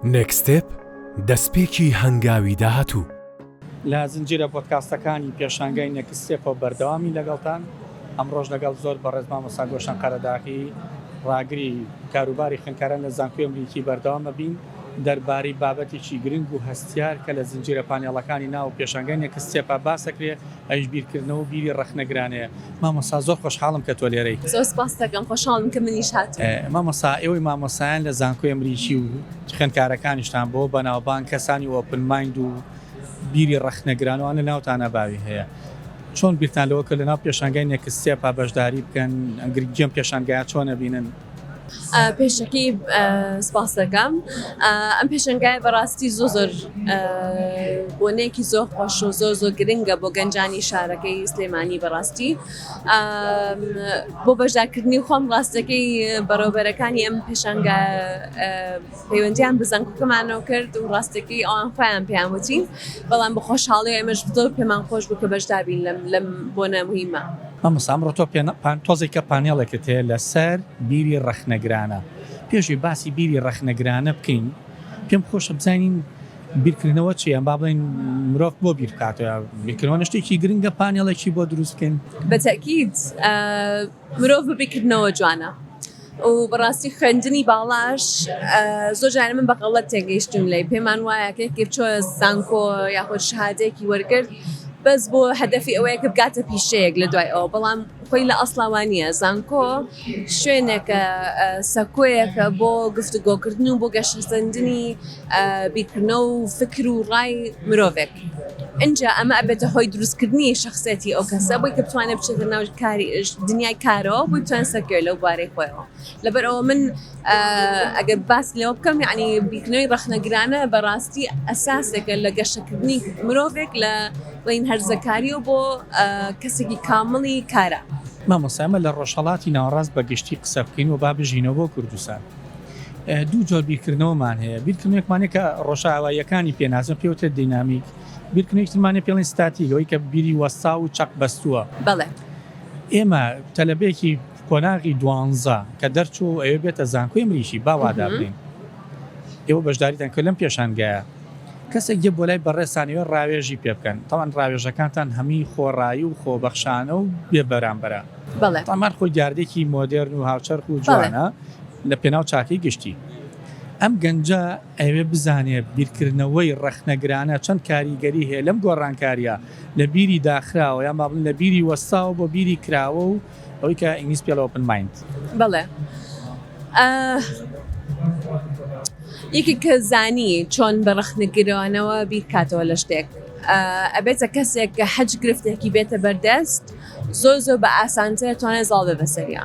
نێکستێپ، دەستپێکی هەنگاوی داهاتوو. لە زنجیرە پۆدکاستەکانی پێشانگای نێکستێپەوە بەردەوامین لەگەڵتان، ئەمڕۆش لەگەڵ زۆر بەڕێز مامۆستا گۆشەن قەرەداغی ڕاگری کاروباری خوێندکاران لە زانکۆی ئەمریکی بەردەوام ئەبین دەربارەی بابەتێکی گرنگ و هەستیار کە لە زنجیرە پانێڵەکانی ناو پێشانگای نێکستێپا باسەکرێ ئەویش بیرکردنەوە و بیری ڕەخنەگرانەیە. مامۆستا زۆر خۆشحاڵم کە تۆ لێرەی. زۆر سوپاستەکەم خۆشحاڵم کە منیش هاتووم. مامۆستا ئێوەی مامۆستایان لە زانکۆی ئەمریکی و خوێندکارەکانیشتان بەوە بەناوبانگ کەسانی ئۆپن مایند و بیری ڕەخنەگران وان لە ناوتانا باوی هەیە چۆن بیرتان لەوە کرد لەناو پێشانگای نێکستێپا بەشداری بکەن گرنگی ئەم پێشانگایە چۆن ئەبینن؟ پێشەکی سپاس دەکەم ئەم پێشنگای بەڕاستی زۆ زۆر بۆنەیەکی زۆر خۆش و زۆر زۆر گرنگە بۆ گەنجانی شارەکەی سلێمانی بەڕاستی بۆ بەشداکردنی خۆم ڕاستەکەی بەڕێوبەرەکانی ئەم پێشنگە پەیوەندیان بە زانکۆکەمانەوە کرد و ڕاستەکەی ئەوان خۆیان پێیان وتی بەڵام بە خۆشحاڵی ئێمەش زۆر پێمان خۆش بوو کە بەشدار بین لەم لەم بۆنە موهیمە. مامۆستا ئەمڕۆ تۆ پێ تۆزێکە پانێڵێکت هەیە لەسەر بیری ڕەخنەگرانە پێشی باسی بیری ڕەخنەگرانە بکەین پێم خۆشە بزانین بیرکردنەوە چی ئەم با بڵێن مرۆڤ بۆ بیرکاتەوە بیرکردنەوە شتێکی گرنگە پانێڵێکی بۆ دروستکەین بەتەکیت مرۆڤ ببی کردنەوە جوانە و بەڕاستی خوێندنی باڵاش زۆر جارە من بەغەڵەت تێگەیشتون لەی پێمان وایە کێکی چۆ زانکۆ یاخود شهادەیەکی وەرگرت بەس بۆ هەدەفی ئەوەیە کە بگاتە پیشەیەک لە دوای ئەوە بەڵام خۆی لە ئەسڵاوانیە زانکۆ شوێنێکە سەکۆیەکە بۆ گفتوگۆکردن و بۆ گەشەسەندنی بیکردنەوە و فکر و ڕای مرۆڤێک ئینجا ئەمە ئەبێتە هۆی دروستکردنی شەخسیەتی ئەو کەسە بۆی کە بتوانێت بچێتە ناو کاری دنیای کارەوە بۆی بتوانێت سەرکەوێت لەو بوارەی خۆیەوە لەبەر ئەوە من ئەگەر باس لەوە بکەم یعنی بیکنەوەی ڕەخنەگرانە بەڕاستی ئەساسێکە لە گەشەکردنی مرۆڤێک لە بڵین هەرزەکاریەوە بۆ کەسێکی کامڵی کارا. مامۆستا ئێمە لە ڕۆژهەڵاتی ناوەڕاست بە گشتی قسە بکەین و با بژینەوە بۆ کوردستان. دوو جۆر بیرکردنەوەمان هەیە، بیرکردنەوەیەکمان هەیە کە ڕۆژئاواییەکانی پێ ناسن، پێی وترێت دینامیک، بیرکردنەوەیەکی ترمان هەیە پێی دەڵێن ستاتیک، ئەوەی کە بیری وەستاو و چەق بەستووە. بەڵێ. ئێمە تەلەبەیەکی قۆناغی دوانزە کە دەرچووە و ئەوێ بێتە زانکۆی مریشی، با وا دابنێین، ئێوە بەشداریتان کرد لەم پێشانگایە، کەسێک دێ بۆ لای بەڕێزتان ئەوێ ڕاوێژی پێ بکەن، تەوان ڕاوێژەکانتان هەمووی خۆڕایی و خۆبەخشانە و بێبەرامبەرە. بەڵێ. تەمان خۆی دیاردەیەکی مۆدێرن و هاوچەرخ و جوانە. لە پێناو چاکەی گشتی. ئەم گەنجە ئەیەوێت بزانێت بیرکردنەوەی ڕەخنەگرانە چەند کاریگەری هەیە لەم گۆڕانکارییە لە بیری داخراوە یان با بڵێین لە بیری وەستاوە بۆ بیری کراوە و ئەوەی کە ئینگلیز پێڵێ ئۆپن مایند. بەڵێ. یەکێک کە زانی چۆن بە ڕەخنەگرانەوە بیرکاتەوە لە شتێک ئەبێتە کەسێک کە هەچ گرفتێکی بێتە بەردەست زۆر زۆر بە ئاسانتر توانێت زاڵ بێ بەسەریا.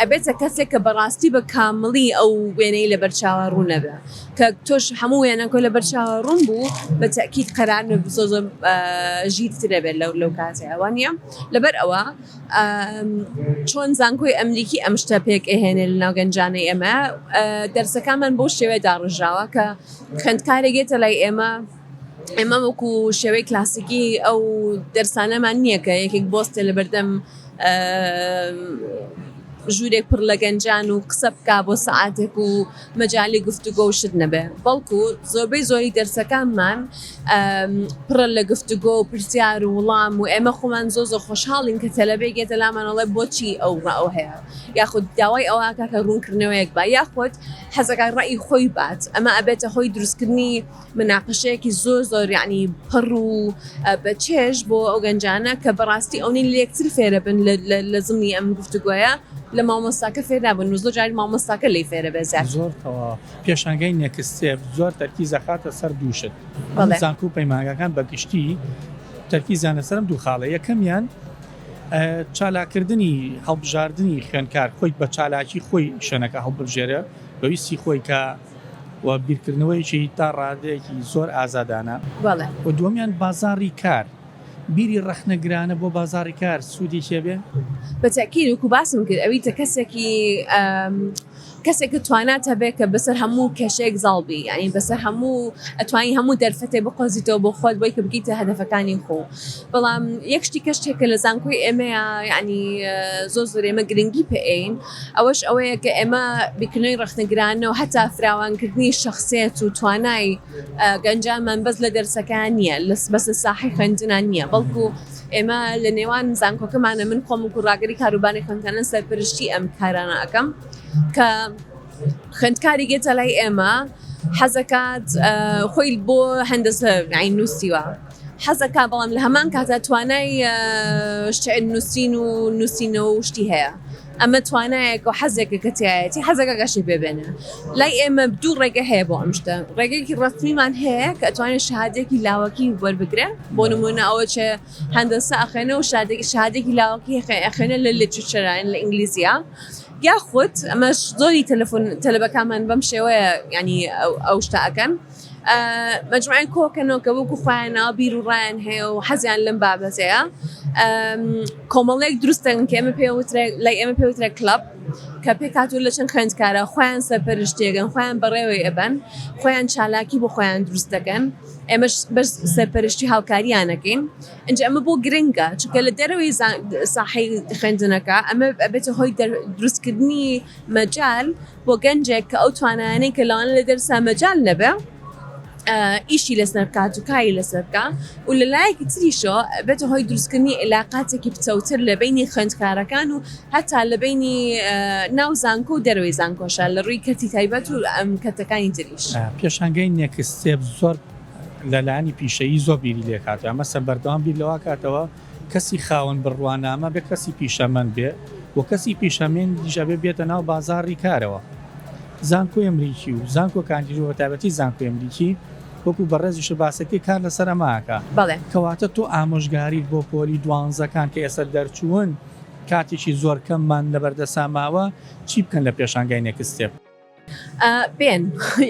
ئەبێتە کەسێک کە بەڕاستی بە کامڵی ئەو وێنەی لەبەر چاوا ڕوون نەبێ کە تۆش هەموو وێنەک و لەبەر چاوا ڕوون بوو بە تەئکید قەرار نەبوو زۆر زۆر ژیرتر دەبێت لەو لەو کاتەیە وا نییە لەبەر ئەوە چۆن زانکۆی ئەمریکی ئەم شتە پێک ئەهێنێ لە ناو گەنجانەی ئێمە دەرسەکانمان بەو شێوەیە داڕژاوە کە خوێندکارێک یێتە لای ئێمە ئێمە وەکو شێوەی کلاسیکی ئەو دەرسانەمان نییە کە یەکێک بۆستە لە بەردەم ژوورێک پڕ لە گەنجان و قسە بکا بۆ سعاتێک و مەجای گفتوگۆ و شت نەبێ بەڵکو زۆربەی زۆری دەرسەکانمان پڕە لە گفتوگۆ و پرسیار و وڵام و ئێمە خۆمان زۆ زۆ خۆشحاڵین کە تەلەبێک گێتە لامانەڵێ بۆچی ئەو ئەو هەیە یاخود داوای ئەوواکە کە ڕوونکردنەوەیەک بە یاخود حەزەکە ڕێی خۆی بات ئەمە ئەبێتە هۆی دروستکردنی مناقەشەیەکی زۆر زۆر یعنی پڕ و بە چێژ بۆ ئەو گەنجانە کە بەڕاستی ئەونی لەکتر فێرە بن لە زمنی ئەم گفتوگوۆیە لە مامۆستاکە فێدا بن و زۆر جاری مامۆستاکە لی فێرە بێ زیات زۆر پێشانگەی نێکستێپ زۆر تەرکی زەخاتە سەر دووشت زانکو و پەیمانگەکان بەگشتی تەرکی زانە سەرم دوو خاڵە یەکەمیان چالاکردنی هەڵبژاردننی خوێنکار خۆی بە چالاکی خۆی شوێنەکە هەڵبژێرە بەویستی خۆی کە و بیرکردنەوەیەکی تا ڕادەیەکی زۆر ئازادانە و دووەمیان بازاڕی کار بیری ڕەخنەگرانە بۆ بازاڕی کار سوودی چێبێ؟ بە تەکیید وەکو باسم کرد ئەویتە کەسێکی کەسێکە توانات هەبێت کە بەسەر هەموو کەشێک زاڵبی ینی بەسەر هەموو ئەتوانی هەموو دەرفەتێ بقۆزیتەوە بۆ خۆت بۆی کە بگیتە هەدەفەکانی خۆ بەڵام یەکشتی کەشتێکە لە زانکۆی ئێمەیە ینی زۆر زۆر ئێمە گرنگی پێین ئەوەش ئەوەیە کە ئێمە بیکنۆی ڕەخنەگرانەو هەتا فراوانکردنی شەخسێت و توانای گەنجانمان بەس لە دەرسەکان نییە لەس بەس لە ساحەی خوێندنان نییە بەڵکو ئێمە لە نێوان زانکۆکەمانە من خۆم و گوڕاگەری کاروبانی خوێندکانە سەرپەرشتی ئەم کارانە ئەکەم کە خوێندکاری گێتە لای ئێمە حەزەکات خۆی بۆ هەندەسە نووسیوە. حەزەکا بەڵام لە هەمان کاتدا توانای شعر نووسین و نووسینەوە و شتی هەیە ئەمە توانایەک و حەزێکە کە تایەتی حەزەکە گەشی پێبێنێ لای ئێمە دوو ڕێگە هەیە بۆ ئەم شتە ڕێگەیەکی ڕستمیمان هەیە کە ئەتوانێت شهادێکی لاوەکی وەربگرێ بۆ نمونە ئەوە چێ هەندەسە ئەخێنە و شادێکی شهادێکی لاوەکی ئەخێنە لە لێچوچەران لە ئینگلیزیە یاخود ئەمەش زۆری تەلەفۆن تەلبەکانمان بەم شێوەیە ینی ئەو شتە ئەەکەن مەجموعەی کۆکە نۆکە وەکو خۆیان ناوە بیر و ڕایان هەیە و حەزیان لەم بابەتەیە کۆمەڵێک دروستن کە ئێمە پێ لای ئێمە پێوترە کلب کە پێکاتور لە چەند خوێندکارە خۆیان سەرپەرشتێگەن خۆیان بەڕێوەی ئەبەن خۆیان چالاکی بۆ خۆیان دروست دەکەن ئێمەش بەس سەرپەرشتی هاوکاریانەکەین ئەنج ئەمە بۆ گرنگە چکە لە دەرەوەی ساحی خوێندنەکە ئەمە بێتە هۆی دروستکردنی مەجال بۆ گەنجێک کە ئەو توانایانەی کە لەوانە لە دەرسا مەجال نەبێ ئیشی لەسەر بکات و کاری لەسەر بکا و لە لایەکی تریشەوە بێتە هۆی دروستکردنی علاقاتێکی پتەوتر لە بینی خوێندکارەکان و هەتا لە بینی ناو زانکۆ و دەروی زانکۆشە لە ڕووی کەتی تایبەت و ئەم کەتەکانی تریش پێشانگەی نێکستێپ زۆر لەلایانی پیشەیی زۆر بیری لێکاتەوە مەسە بەردەوام بیر لەوا کاتەوە کەسی خاوەن بڕوانامە بێ کەسی پیشەمەند بێ و کەسی پیشەمێندیش ئەبێ بێتە ناو بازاڕی کارەوە زانکۆی ئەمریکی و زانکۆ کاندیدۆ بە تایبەتی زانکۆی ئەمریکی وەکو بەڕێزیشە باسەکەی کار لەسەر ئەماکە بەڵێ کەواتە تۆ ئامۆژگاریت بۆ پۆلی دوانزەکان کە ئێستا دەرچوون کاتێکی زۆر کەممان لەبەردەستا ماوە چی بکەن لە پێشانگای نێکست ستێپ؟ بێن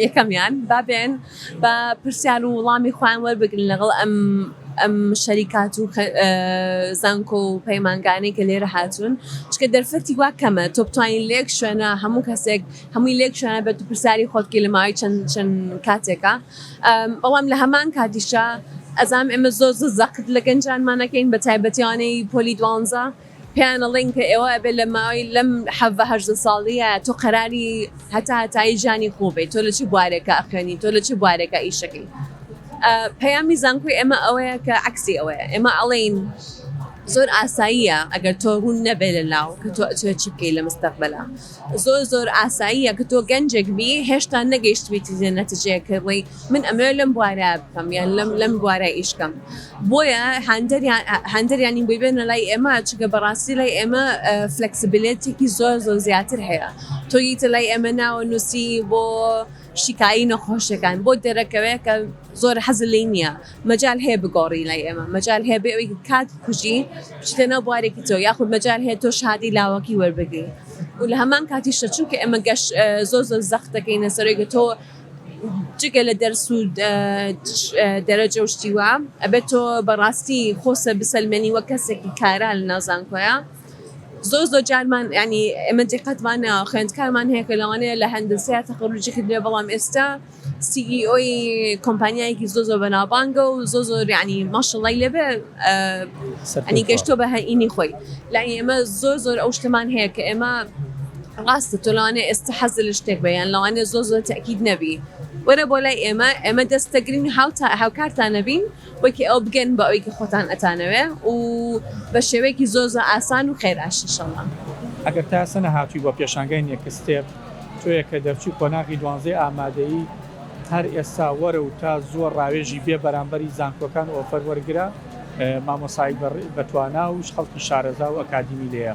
یەکەمیان با بێن بە پرسیار و وڵامی خۆیان وەربگرن لەگەڵ ئەم ئەم شەریکات و زانکۆ و پەیمانگانەی کە لێرە هاتوون چکە دەرفەتی وا کەمە تۆ بتوانین لێک شوێنە هەموو کەسێک هەمووی لێک شوێنە بێت و پرسیاری خۆتکی لە ماوەی چەند چەند کاتێکە بەڵام لە هەمان کاتیشە ئەزام ئێمە زۆر زەقت لە گەنجانمانەکەین بە تایبەتیانەی پۆلی دوانزە پێیان ئەڵێن کە ئێوە ئەبێ لە ماوەی لەم حەڤە هەژدە ساڵیە تۆ قەراری هەتا هەتایی ژانی خۆ بێ تۆ لە چ بوارێکە ئەخوێنی تۆ لە چ بوارێکە ئیشەکەی پەیامی زانکۆی ئێمە ئەوەیە کە عەکسی ئەوەیە ئێمە ئەڵێین زۆر ئاساییە ئەگەر تۆ ڕوون نەبێ لە لاو کە تۆ ئەچێت چی بکەی لە مستەقبلا زۆر زۆر ئاساییە کە تۆ گەنجێک بی هێشتا نەگەیشتویتی لە نەتجەیە کە ڕێی من ئەمەوێ لەم بوارە بکەم یان لەم لەم بوارە ئیشکەم بۆیە هەندریان هەندریانی بۆی بێنە لای ئێمە چگە بەڕاستی لای ئێمە فلکسبلێتێکی زۆر زۆر زیاتر هەیە تۆیتە لای ئێمە ناوە نووسی بۆ شیکایی نەخۆشەکان بۆ دەرەکەوێت کە زۆر حەز لی نییە مەجال هەیە بگۆڕی لای ئێمە مەجال هەیە بێ ئەوی کات کوژی بچیتە ناو بوارێکی تۆ یاخود مەجال هەیە تۆ شادی لاوەکی وەربگری و لە هەمان کاتیشە چونکە ئێمە گەش زۆر زۆر زەخت دەکەینە سەرۆی گە تۆ جگە لە دەرس و دەرەجە و شتی وا ئەبێت تۆ بەڕاستی خۆسە بسەلمێنی وەک کەسێکی کارا لە ناوزانکۆیە زۆر زۆر جارمان ینی ئێمە دیقەتمان ناوە خوێندکارمان هەیە کە لەوانەیە لە هەندەسەیە تەخەروجی کردبێ بەڵام ئێستا سی ئی ئۆی کۆمپانیایەکی زۆر زۆر بەناوبانگە و زۆر زۆر ینی ماشەڵڵای لێبێ ئەنی گەشتۆ بە هەینی خۆی لای ئێمە زۆر زۆر ئەو شتمان هەیە کە ئێمە ڕاستە تۆ لەوانەیە ئێستا حەزت لە شتێک بێ یان لەوانەیە زۆر زۆر تەئکید نەبی وەرە بۆ لای ئێمە ئێمە دەست دەگرین هاوتا هاوکارتان نەبین وەکی ئەو بگەن بە ئەوەی کە خۆتان ئەتانەوێ و بە شێوەیەکی زۆر زۆر ئاسان و خێراش ئینشەڵڵا. ئەگەر تا ئێستا نەهاتووی بۆ پێشانگای نێکستێپ تۆیە کە دەرچووی قۆناغی دوانزەی ئامادەیی هەر ئێستا وەرە و تا زووە ڕاوێژی بێ بەرامبەری زانکۆکان و ئۆفەر وەرگرە مامۆسایەک بە توانا و خەڵکی شارەزا و ئەکادیمی لێیە.